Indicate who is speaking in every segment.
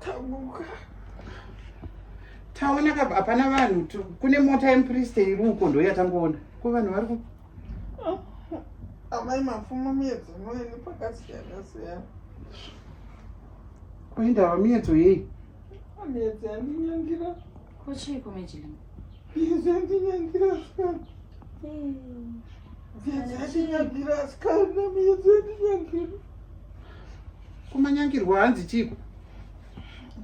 Speaker 1: tamuka
Speaker 2: taona ka hapana vanhu kune mota yempriste iri uko ndo yatangoona ko vanhu vari ku amai
Speaker 3: mapfumo miedzo noini pakasiyana siyana
Speaker 2: koindava miedzo yei miedzo
Speaker 3: yandinyangira kochii
Speaker 1: komejili miedzo
Speaker 3: yandinyangira sikana miedzo yandinyangira sikana miedzo yandinyangira kumanyangirwa
Speaker 2: hanzi chiko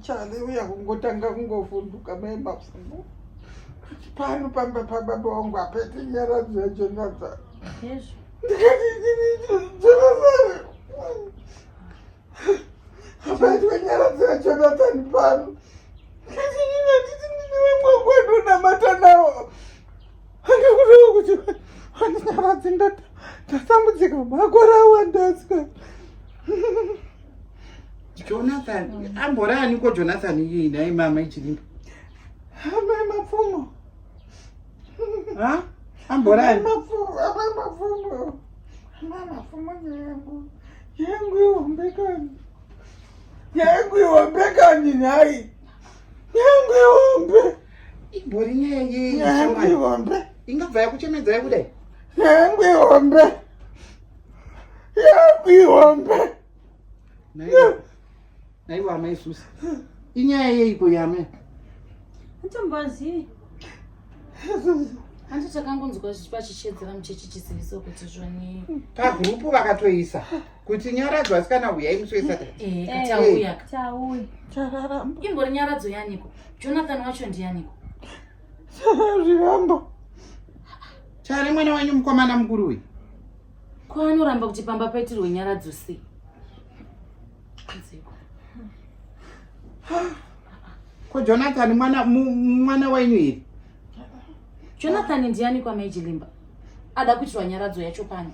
Speaker 3: chale uya kungotanga kungovhunduka mai mapfumo pano pamba pababa wangu apete nyaradzo yacho nyaza apaitwe nyaradzo yacho nathani pano handinyarazi ndatambudzika makore awandaska jonathan
Speaker 2: amborani ko jonathan iyei nhai mama ichirimba amai
Speaker 3: mapfumo amborani
Speaker 2: amai
Speaker 3: mapfumo amai mapfumo nyangu yangu ihombekani yangu ihombekani nhai nyangwe hombe imbori
Speaker 2: nyaya yei nyangwe hombe
Speaker 3: ingabva yakuchemedza
Speaker 2: yekudai nyangwe
Speaker 3: hombe nyangwe hombe
Speaker 2: naivo amai susi inyaya yeiko yame atombozi
Speaker 1: hanti takangonzwa pachichedzera muchechi chisiviso kuti zvoni pagurupu
Speaker 2: vakatoisa kuti nyaradzo asikana huyai
Speaker 1: musi
Speaker 3: wesataimbori nyaradzo
Speaker 1: yaniko jonathan wacho ndiyaniko zvirambo
Speaker 2: chari mwana wenyu mukomana mukuru uyu ko
Speaker 1: anoramba kuti pamba paitirwe nyaradzo sei
Speaker 2: ko jonathan mwana mwana wenyu iri
Speaker 1: jonathan ndiani kwamaijilimba ada kuitirwa nyaradzo yacho pani